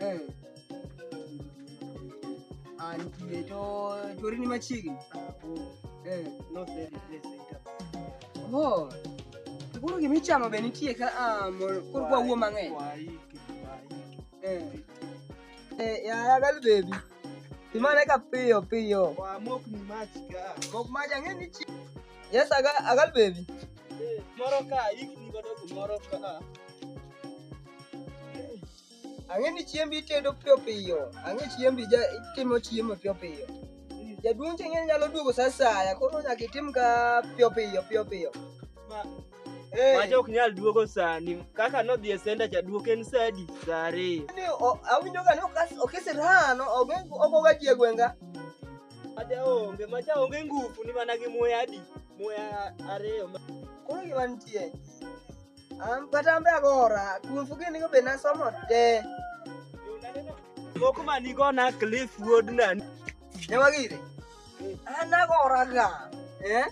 Eh. Ah, nitie to chori ni machiegni. Eh. Oh. To Koro gima ichamo be nitie ka ah, mo- koro kwa wuo mang'eny. Eh. Eh, yaya gal baby. Imane ka piyo piyo. Wamok ni mach ka. Kok maja ng'e ni chi. Yes, agal, agal baby. Eh, Moro ka ikni godo kumoro ka. Ang'e ni chiembi itedo piyo piyo. Ang'e chiembi ja itimo chiemo piyo piyo. Jaduong' cheng'e nyalo duogo sa asaya, koro nyaka itim ka piyo piyo piyo piyo. Eh, Macha ok nyal duogo sani. Kaka nodhi e senda cha duok en saa adi? Saa ariyo. ni o- awinjo ga ni okas- okisirano oge- ogoga ji e gweng'a. Macha onge, macha onge nguvu ni mana gi muya adi? Muya ariyo. Koro gima nitie, An kata ambe agora, kum fugi nigo be nasomo te. Moko ma nigo na Cliff Wood na. Nyamagire. An agora ga. Eh?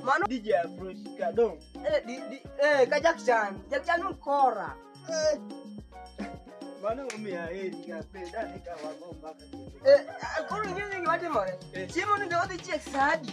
Mano DJ Afro Shikadong. Eh, di, di, eh, ka Jack Chan. Jack Chan mkora. Eh. Mano umia heri ka peda ni ka wagomba ka. Eh, koro ing'eyo gima timore. Eh. Chiemo ni be odhi chiek saa adi?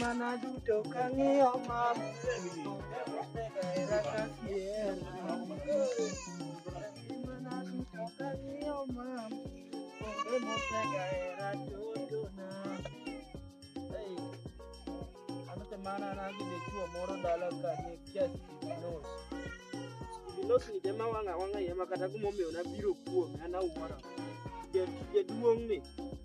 Mana duto kang'iyo mama Mana nagi de chuo moro dala ka ni kiasi kibinos. Kibinos ni dema wanga wanga yema kata kumomiyo na biro kuome ana umara. Jaduong' ni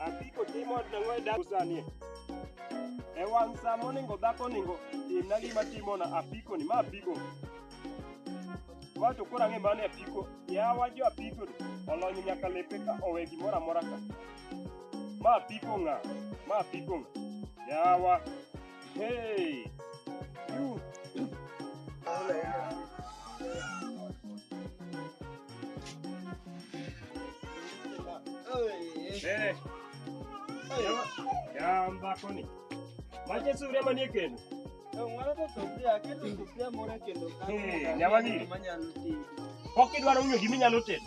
Apiko timo nang'o e dak sani? E wang' sa moningo dhako ningo timna gima timona apiko ni ma apiko. Wato koro ang'e mane apiko. Yawa jo apiko ni olony nyaka lepe ka owe gimoro amora ka. Ma apiko ng'a? Ma apiko ng'a? Yawa. Hey! You! Hey! Yamba koni. Maje sura manie kendo. Hey, nyawagiri. Pok idwaro ng'eyo gima inyalo tedo.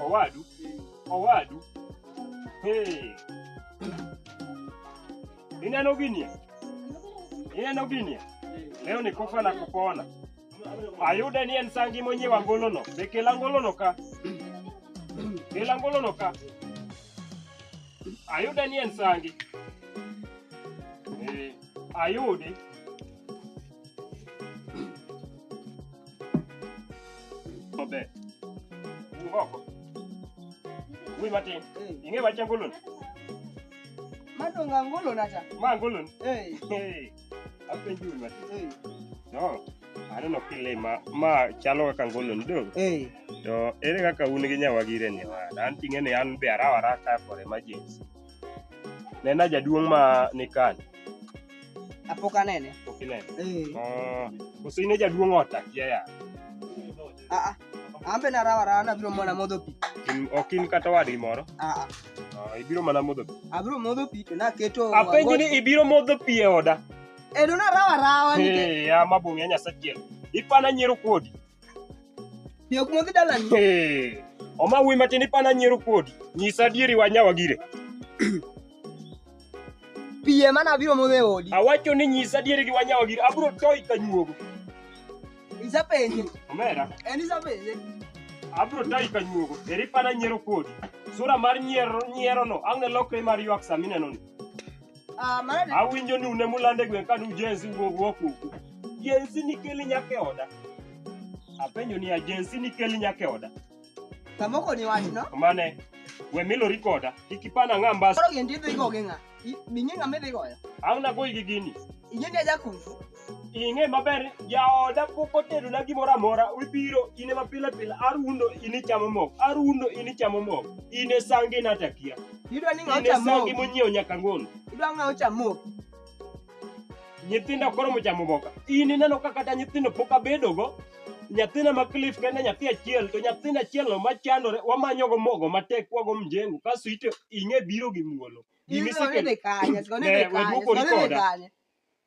Owadu, owadu. Hey. Ineno ginie? Ineno ginie? Leo ni kufa na kupona. Ayude ni en sangi mwenye wangolono. Be kel angolono ka. Kel angolono ka. Ayude ni en sangi. Eh, ayudi. Maber. Ngoko. Wi matin. Ing'e wach angolon? Madonga ngolo nacha. Ma angolon? Hey. Hey. Apenji wi matin. Hey. No. Aneno kile ma ma chalo kaka angolon do. Hey. To ere kaka un gi nyawagire ni wan? An ting'e ni an be arawa raka for emergency. Nena jaduong' ma nikan. Apok anene. Pok inene. Eh. Oh, koso in e jaduong' ot akia ya. Ah ah. An be narawa rawa nabiro mana modho pi. In- Ok in kata wadgi moro. Ah ah. Oh, ibiro mana modho pi. Abiro modho pi to naketo Apenji ni ibiro modho pi e oda. Eh, do narawa rawa nikech Eh, ama bunge nyasachiel. Ipana nyiero kodi. Bi ok modhi dalani. Hey, Oma wuyi matin ipana nyiero kodi. Nyisa adieri wanyawa gire. Pi ema nabiro modho e odi. Awacho ni nyisa adieri gi wanyawa gire. Abro toyi ka nyuogo. Isapenje. Omera, En isapenje. abro toyi ka nyuogo. Eri ipana nyiero kodi. Sura mar nyiero nyierono ang' ne lokre mar ywak sami neno ni. Ah, mano ni- Awinjo ni une mulande gwen kane ujenzi wuog wokuku. Jenzi nikeli nyaka e oda. Apenjo ni ajenzi nikeli nyaka e oda. kamoko ni wachno. Mane we milori koda kik ipana ng'a mbas. Koro gin tidhi go gi ng'a? I- Ming'e ng'a midhi goyo? Ang' nagoyi gi gini. Ing'e ni ajakufu. ing'e maber jaoda pok otedona gimoro amora ibiro in ema pile pile arundo in ichamo mok arundo in ichamo mok in e sangi natakia Idwa ni ng'aw in e sangi chamok. monyiewo nyaka ng'ono Idwa ng'aw chamok. nyithindo koro mochamo boka in ineno ka kata nyithindo pok abedogo nyathina ma clif kende nyathi achiel to nyathina achielno machandore wamanyogo mogo matek wago mjengo kaso ite ing'e biro gi muolo Idwa ni be kanye, siko ni be kanye, siko ni be kanye.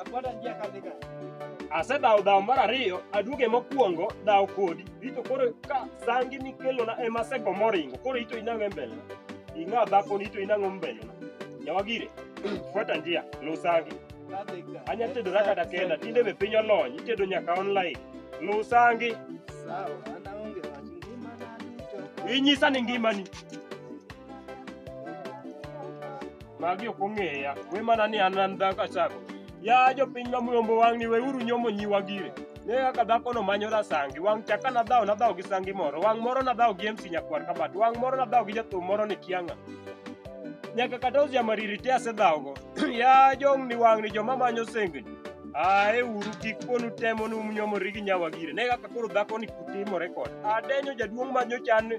Akwada njia kadhi ka. Asedhawo dhawo mar ariyo, aduoge mokwongo dhawo kodi. Rito koro ka sangi mikelona ema asego moringo, koro ito inang'o e mbelena. Ing'a dhakoni ito inang'o mbelena. Nyawagire, fuata njia, luw sangi. Kadhi ka. Anya tedora kata kenda, tinde be piny olony, itedo nyaka online. Luw sangi, Sawa, ana onge wach ngima na duto. inyisa ni ngimani. Magi ok ong'eya. We mana ni an an dhako achako. Ya jopiny ma muyombo wang'ni weuru nyomo nyiwa gire. Ne kaka dhakono manyo rasangi. Wang' chaka nadhawo nadhawo gi sangi moro. Wang' moro nadhawo gi MC Nyakwar Kabat. Wang' moro nadhawo gi jathum moro ni Kianga. Nyaka kata Uzia Mariri te asedhawogo. ya jong'ni wang'ni joma manyo sengni. Ae uru kik ponu temo ni umnyomori gi nyawa gire. Ne kaka koro dhakoni kutimore kod. Adenyo jaduong' manyo chan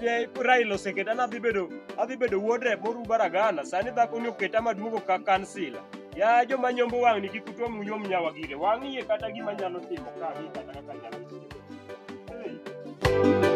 je Raila oseketa ni adhi bedo adhi bedo wuod rep moru baragana sani dhakoni oketa maduogo ka kansila ya joma nyombo wang'ni kik utwa munyom nyawa gire wang'iye kata gima nyalo timo ka ang'e kata kaka nyalo timo Hey.